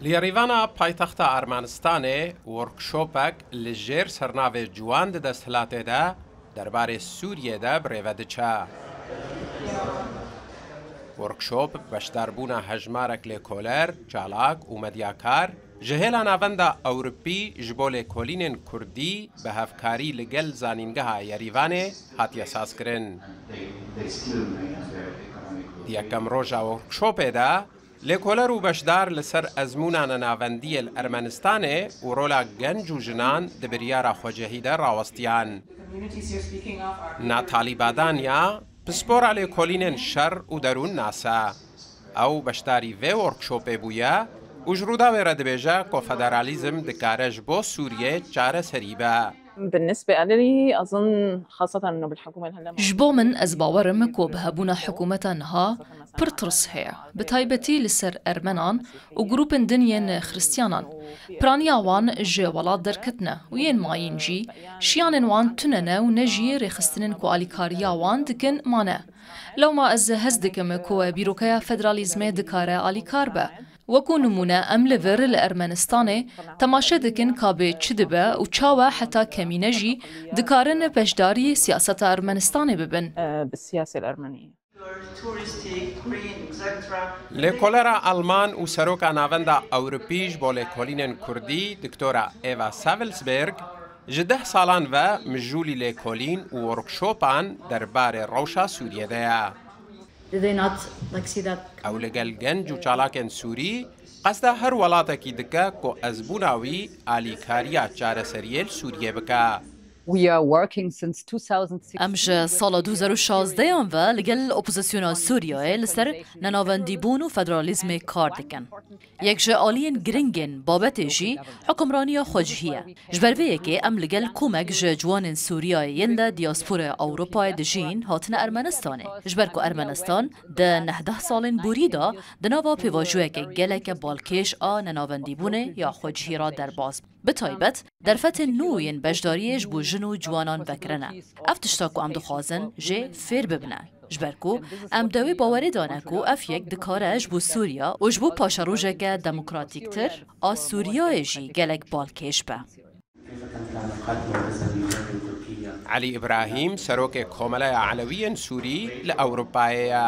Li Yerîvana paytexta Ermenistanê workshopek li jêr sernavê Ciwan di desthilatê de derbarê Sûriyê de bi rêve diçe. Workshop bi beşdarbûna hejmarek lêkoler, çalak û medyakar, Ji hêla Navenda Ewrûpî ji bo Lêkolînên Kurdî bi hevkarî li gel Zanîngeha Yerîvanê hatiye sazkirin. Di yekem roja workshopê de lêkoler û beşdar li ser ezmûna nenavendî yê li Ermenistanê û rola genc û jinan di biryara xwecehî de rawestiyan. Natalî Badanya, pispora lêkolînên şer û derûn nas e. Ew beşdarî vê workshopê bûye û ji Rûdawê re dibêje ku federalîzm dikare ji bo Sûriyê çareserî be. Ji bo min ez bawer im ku bi hebûna hikûmeta niha pir tirs heye, bi taybetî li ser ermenan û grûpên din yên xiristyanan. Piraniya wan ji welat derketine û yên mayîn jî şiyanên wan tune ne û ne jî rêxistinên ku alîkariya wan dikin mane. Lewma ez hez dikim ku bîrokeya federalîzmê dikare alîkar be. Wekû nimûne em li vir li Ermenistanê temaşe dikin ka bê çi dibe û çawa heta kemîne jî dikarin beşdarî siyaseta Ermenistanê bibin. Lêkolera Alman û Seroka Navenda Ewropî ji bo Lêkolînên Kurdî Doktora Eva Savelsberg, Ji deh salan ve mijûlî lêkolîn û workshopan derbarê rewşa Sûriyê de ye. Ew li gel genc û çalakên Sûrî qesda her welatekî dike ku ezbûna wî alîkariya çareseriyê li Sûriyê bike. Em ji sala du hezar û şazdeyan ve li gel opozisyona Sûriyeyê li ser nenavendîbûn û federalîzmê kar dikin. Yek ji aliyên girîng ên babetê jî hukimraniya xwecihî ye. Ji ber vê yekê em li gel komek ji ciwanên Sûriyayê yên de diasporaya Ewropayê dijîn hatine Ermenistanê. Ji ber ku Ermenistan di nehdeh salên borî de di nava pêvajoyeke geleke balkêş a nenavendîbûnê ya xwecihî re derbas bû, bi taybet, Derfetên nû yên beşdariyê ji bo jin û ciwanan vekirine. Ev tişta ku em dixwazin jê fêr bibine. Ji ber ku em di wê bawerê de ne ku ev yek dikare ji bo Sûriya û ji bo paşerojeke demokratîktir a Sûriyayê jî gelek balkêş be. Elî Îbrahîm serokê Komeleya Elewiyên Sûrî li Ewropayê ye.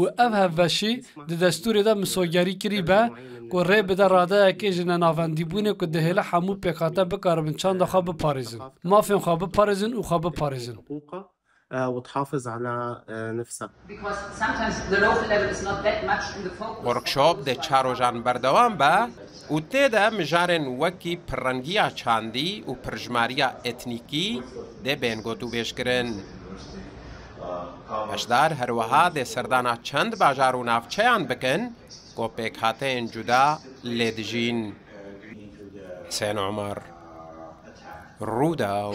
û ev hevbeşî di destûrê de misogerî kirî be ku rê bide radeyekê ji nenavendîbûnê ku dihêle hemû pêkhate bikaribin çanda xwe biparêzin, mafên xwe biparêzin û xwe biparêzin. Workshop di çar rojan berdewam be û tê de mijarên wekî pirrengiya çandî û pirjimariya etnîkî dê bên gotûbêjkirin. Beşdar her wiha dê serdana çend bajar û navçeyan bikin ku pêkhateyên cuda lê dijîn. Husên Omar, Rûdaw.